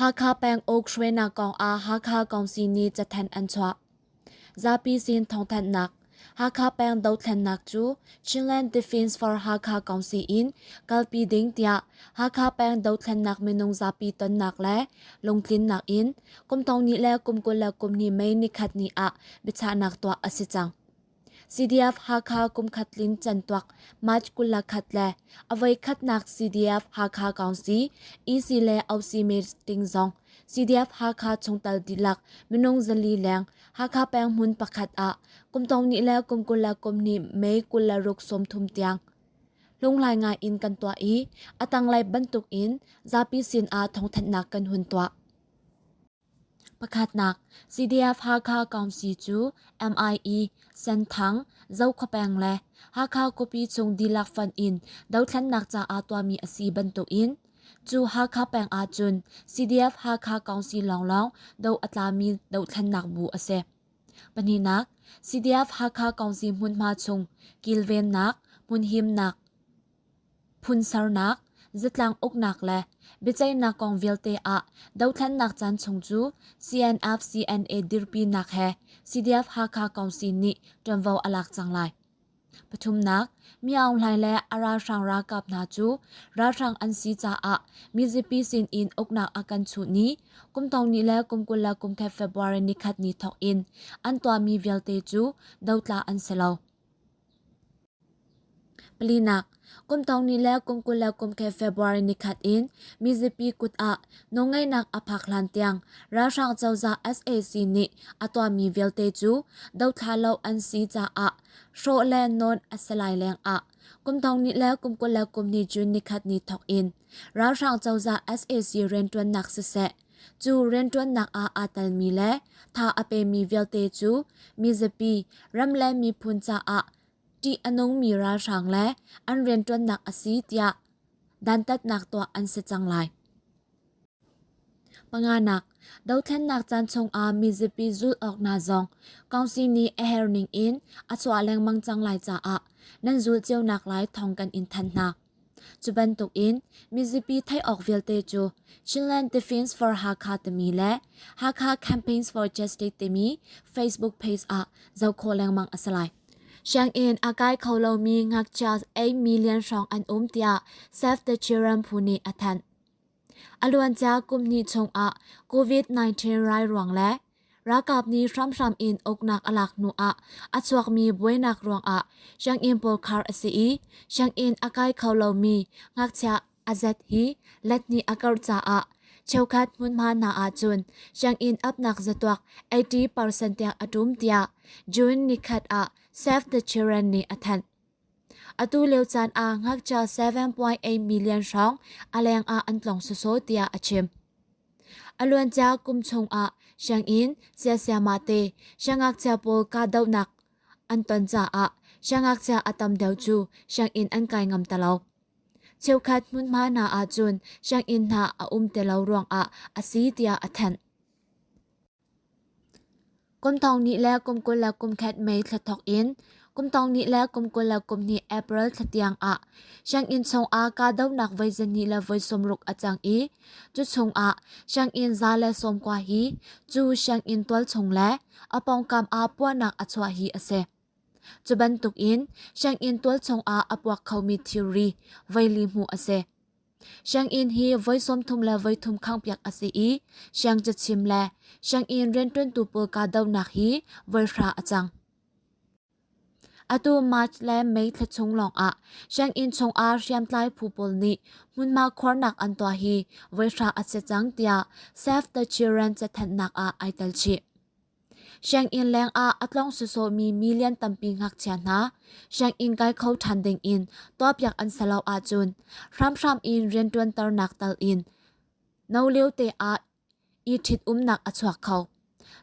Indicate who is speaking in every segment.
Speaker 1: Hakha peng uk hruainak kongah Hakha Kawngsi nih cathanh an chuah. Zapi sin thawngthanhnak Hakha peng dothlennak cu Chinland Defence for Hakha Kawngsi in kalpi ding tiah Hakha peng dothlennak minung zapi tonnak le lungtlinnak in kum thong nih le kum kul le kum hnih mei nikhat ni ah biachahnak tuah a si cang. CDF-Hakha kumkhat tlin cantuak March kul le khat le a voikhatnak CDF-Hakha Council EC le OC meeting zong CDF-Hakha chungtal dihlak minung zali leng Hakha penghmun pakhat ah kumtong ni le kum kul le kum ni May kul le ruk sawmthum tiang lunglai nga in kan tuah i a tanglei bantuk in zapi sin ah thawngthanhnak kan hun tuah. Pakhatnak, CDF-Hakha Council cu MIE, Senthang, Zokhawpeng le Hakha Kawpi chung dihlak fanh in dothlennak caah tuahmi a si bantukin cu Hakha peng ahcun CDF-Hakha Council lawnglawng do a tlami dothlennak bu a si. Pahnihnak, CDF-Hakha Council hmunhma chung kilvennak, hmunhimnak, Phunsernak, zatlang uknak le biaceihnak kong vialte ah dothlennak caan chung cu CNF-CNA dirpinak he CDF-Hakha Council nih ṭuanvo a lak cang lai. Pathumnak, Mi Aung Hlaing le a ralhrang ralkap hna cu ralhrang an si caah mizapi sin in uknak a kan chuh ni kumtawni le kumkul le kumkhat February ni khat ni thawk in an tuahmi vialte cu dotla an si lo. Palinak, kum tawngni le kum kul le kum khe February nikhat in mizapi kut ah nawlngaihnak a phak hlan tiang ralhrang cozah sac nih a tuahmi vialte cu dothla lo an si caah hrawh le nawn a si lai leng ah kum tawngni le kum kul le kum ni June nikhat ni thawk in ralhrang cozah sac rianṭuannak siseh Cu rianṭuannak ah aa telmi le tha a pemi vialte cu mizapi, ram le miphun caah ṭih a nungmi ralhrang le an rianṭuannak a si tiah dantatnak tuah an si cang lai. Panganak, dothlennak caan chungah mizapi zulh awk hna zong council nih a her ning in a chuah lengmang cang lai caah nan zul cionak lai thawng kan in thanh hna. Cu bantukin mizapi theih awk vialte cu Chinland Defence for Hakha timi le Hakha Campaigns for Justice timi Facebook page ah zoh khawh lengmang a si lai. Sianginn a kai kho lomi ngakchia ei million hrawng an um tiah Save the Children phu nih a thanh. A luancia kum hnih chungah COVID-19 rai ruang le Ralkap nih hramhram in uknak a lak hnu ah a chuakmi buainak ruangah sianginn pawl khar a si i sianginn a kai kho lomi ngakchia azet hi letnih a karh caah cheukhat hmunhma hna ahcun sianginn apnak zatuak 80% tiang a ṭum tiah June nikhat ah Save the Children nih a thanh. Atu lio caan ah ngakchia 7.8 million hrawng a leng ah an tlong soso tiah a chim. A luancia kum chung ah sianginn siasiama te siangngakchia pawl kahdohnak an ton caah siangngakchia a tam deuh cu sianginn an kai ngam ta lo. Cheukhat hmunhma hna ahcun sianginn hna a um te lo ruang ah a si tiah a thanh. Kumthong ni le kum kul le kum khat May thla thok in kumthong ni le kum kul le kum hnih April thla tiang ah sianginn chungah kahdohnak voi zani le voi sawmruk a cang i cu chungah sianginn za le sawmkua hi cu sianginn tualchung le a pawngkam ah puahnak a chuah hi a si. Cu bantuk in sianginn tualchung ah a puak khomi thilri voi li hmuh a si. Sianginn hi voi sawmthum le voi thum khangpiak a si i siang cachim le sianginn rianṭuntu pawl kahdohnak hi voi hra a cang. Atu March le May thla chung lawngah sianginn chungah hriamtlai phu pawl nih hmunma khuarnak an tuah hi voi hra a si cang tiah Save the Children cathanhnak ah ai tel chih. Sianginn lengah a tlong sawsawmi million tampi ngakchia hna sianginn kai kho ṭhan dingin tuahpiak an si lo ahcun hramhram in rianṭuanternak tal in no liote ah i ṭhitumnak a chuak kho.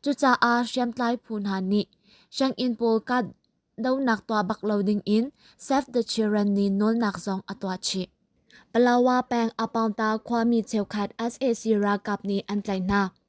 Speaker 1: Cucaah hriamtlai phu hna nih sianginn pawl kahdohnak tuah bak lo dingin Save the Children nih nawlnak zong a tuah chih. Palawa peng Apaungta khuami cheukhat sac ralkap nih an tlaih hna.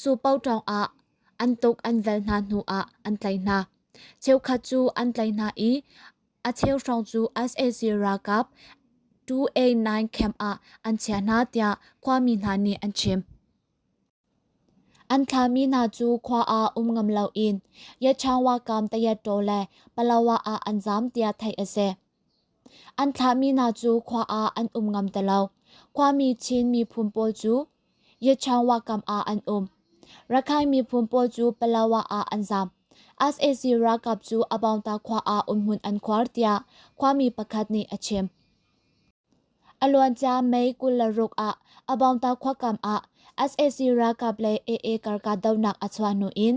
Speaker 1: Supo tawngah an tuk an vel hna hnu ah an tlai hna. Cheukhat cu an tlai hna i a cheu hrawng cu SAC ralkap 289 camp ah an chiah hna tiah khuami hna nih an chim. An thlahmi hna cu khua ah um ngam lo in Yatchangwa kam Tayattaw le Palawa ah an zaam tiah theih a si. An thlahmi hna cu khua ah an um ngam ti lo. Khuami Chin miphun pawl cu Yatchangwa kam ah an um. Rakhine miphun pawl cu Palawa ah an zaam. SAC ralkap cu Abawngta khua ah umhmun an khuar tiah khuami pakhat nih a chim. A luancia May kul le ruk ah Abawngta khua kam ah SAC ralkap le AA kar kahdohnak a chuah hnu in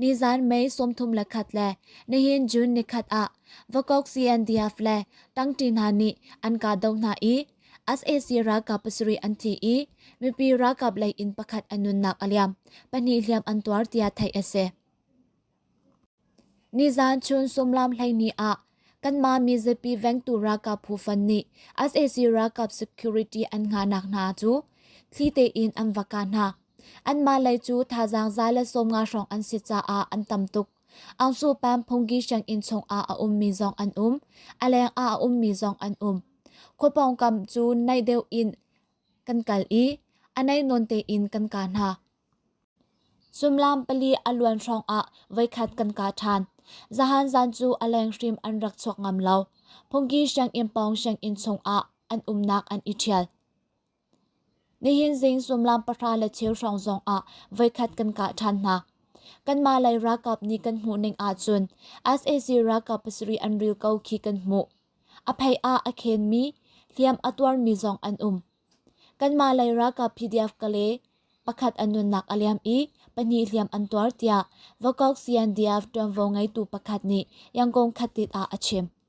Speaker 1: Nizan May sawmthum le khat le nihin June ni khat ah vakok CNDF le tangti hna nih an ka do hna i SAC ralkap pasarih an thi i mipi ralkap lei in pakhat an nunnak a liam pahnih hliam an tuar tiah theih a si. Nizan chun sumlam hleini ah kanmah mizapi vengtu ralkap phu fan nih SAC ralkap security an nga nak hna cu thli tein an vaka hna Anmah lei cu thazaang za le sawmnga hrawng an si caah an tam tuk. Angsu pam phungki sianginn chungah a ummi zong an um. A leng ah a ummi zong an um. Khuapawng kam cu naih deuh in kan kal i a naih nawn tein kan ka hna. Sumlam pali a luan hrawng ah voikhat kan ka ṭhan. Zahan zan cu a leng hrim an rak chuak ngam lo. Phungki sianginn pawng sianginn chungah an umnak an i ṭhial. Nihin zing sullam pahra le cheu hrawng zong ah voikhat kan kah ṭhan hna. Kanmah lei ralkap nih kan hmuhning ahcun sac ralkap pasarih an ril ko khi kan hmuh. A phei ah a khenmi, hliam a tuarmi zong an um. Kanmah lei ralkap PDF kale pakhat an nunnak a liam i pahnih hliam an tuar tiah Vokok CNDF ṭuanvo ngeitu pakhat nih yangkong khatit ah a chim.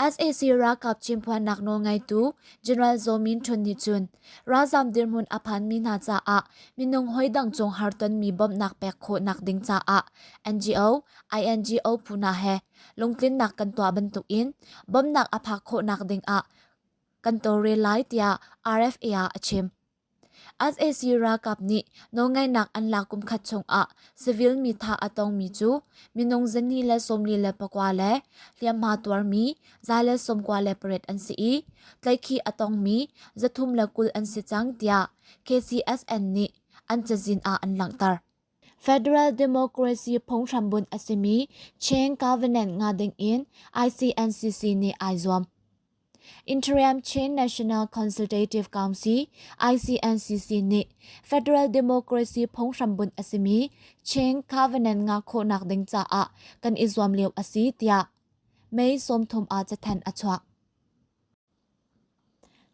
Speaker 1: sac ralkap chimphuannak nawlngeitu general zaw min chun nih cun ralzam dirhmun a phanmi hna caah minung hawidang cung har tonmi bawmhnak pek khawhnak ding caah ngo ino phu hna he lungtlinnak kan tuah bantukin bawmhnak a phak khawhnak ding ah kan tawlrel lai tiah rfa ah a chim sac ralkap nih nawlngaihnak an lak kumkhat chungah civil mi thah a tongmi cu minung zani le sawmli le pakua le hliamhma tuarmi za le sawmkua le pariat an si i tlaikhi a tongmi zathum le kul an si cang tiah kcsn nih an cazin ah an langhter federal democracy phunghrambunh a simi chain governance nga dingin icncc nih ai zuam Interim Chin National Consultative Council ICNCC nih Federal Democracy phunghrambunh a simi Chin Covenant nga khawhnak ding caah kan i zuam lio a si tiah May sawmthum ah cathanh a chuak.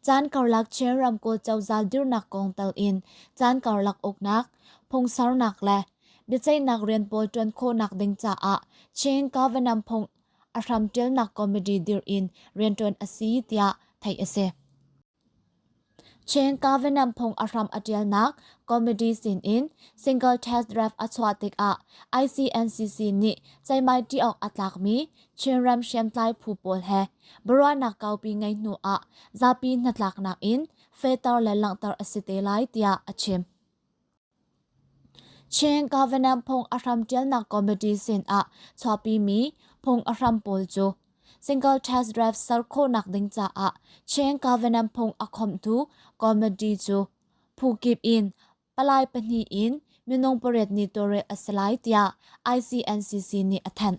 Speaker 1: Caan karlak Chin ramkawl cozah dirnak kong tal in caan karlak uknak, phungsarnak le biaceihnak rian pawl ṭuan khawhnak ding caah Chin Covenant phung a hramṭialnak comedy dirh in rianṭuan a si tiah theih a si. Chen Kavanagh phung a hram a ṭialnak comedy sin in single test draft a chuah tikah ICNCC nih ceimai ṭih awk a tlakmi Chinram hriamtlai phu pawl he biaruahnak kaupi ngei hnu ah zapi hnatlaknak in fehter le langhter a si te lai tiah a chim. Chin Covenant phung a hram ṭialnak committee sinah chuahpimi phung a hram pawl cu single tax draft ser khawhnak ding caah Chin Covenant phung a khawmhtu committee cu phu kip in palai pahnih in minung pariat ni tawlrel a si lai tiah ICNCC nih a thanh.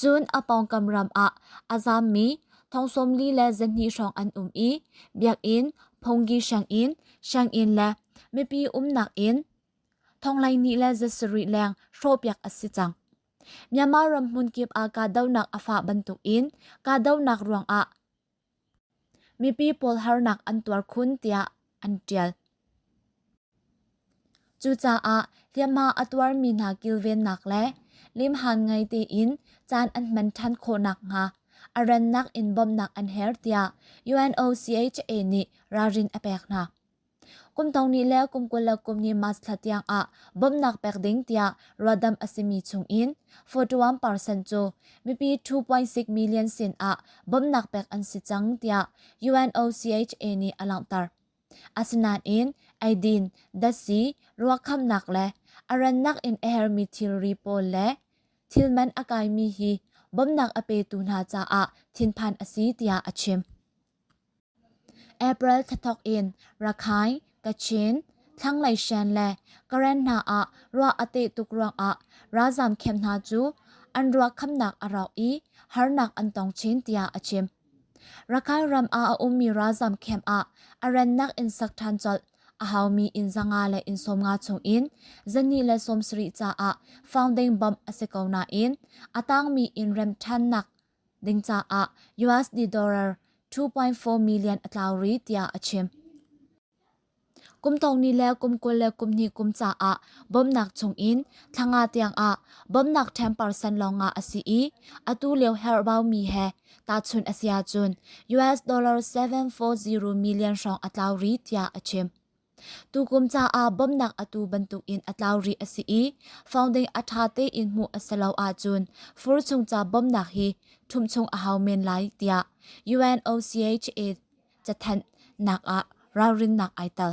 Speaker 1: Cun a pawngkam ram ah a zammi thong sawmli le zahnih hrawng an um i biakinn, phungki sianginn, sianginn le mipi umnak inn thonghleihnih le za sarih leng hrawhpiak a si cang. Myanmar ram hmun kip ah kahdohnak a fah bantukin kahdohnak ruangah Mipi pawl harnak an tuar khun tiah an ṭial. Cucaah hliamhma a tuarmi hna kilvennak le limhan ngei tein caan an hman ṭhan khawh nakhnga a rannak in bawmhnak an her tiah UNOCHA nih ralrin a pek hna. Kum thong hnih le kum kul le kum hnih March thla tiang ah bawmhnak pek ding tiah ruahdamh a simi chungin 41% cu mipi 2.6 million sin ah bawmhnak pek an si cang tiah UNOCHA nih a langhter. Asinain eidin, datsi, ruakhamnak le a rannak in a hermi thilri pawl le thilman a kaimi hi bawmhnak a petu hna caah thinphan a si tiah a chim. April thla thawk in Rakhine, Kachin, Thlanglei Shan le Karen hna ah ruah a teh tuk ruangah ralzaam camp hna cu an ruahkhamnak a rauh i harnak an tong chin tiah a chim. Rakhine ram ah a ummi ralzaam camp ah a rannak in sak ṭhan colh a haumi inn zanga le inn sawmnga chungin zani le sawmsarih caah founding bomb a si ko nain a tangmi inn remṭhannak ding caah US dollar 2.4 million a tlau ri tiah a chim. Kum tong ni le kum kul le kum hnih kum caah bawmnak chung in thlanga tiang ah bawmnak 10% lawng a si i atu lio herbau mi he tahchun a sia cun US dollar 740 million hrawng a tlau ri tiah a chim. Tukum caah bawmhnak atu bantukin a tlau rih a si i founding a ṭha tein hmuh a si lo ahcun fur chung ca bawmhnak hi ṭhum chung a hau men lai tiah UNOCHA cathanh nak ah ralrinnak ai tel.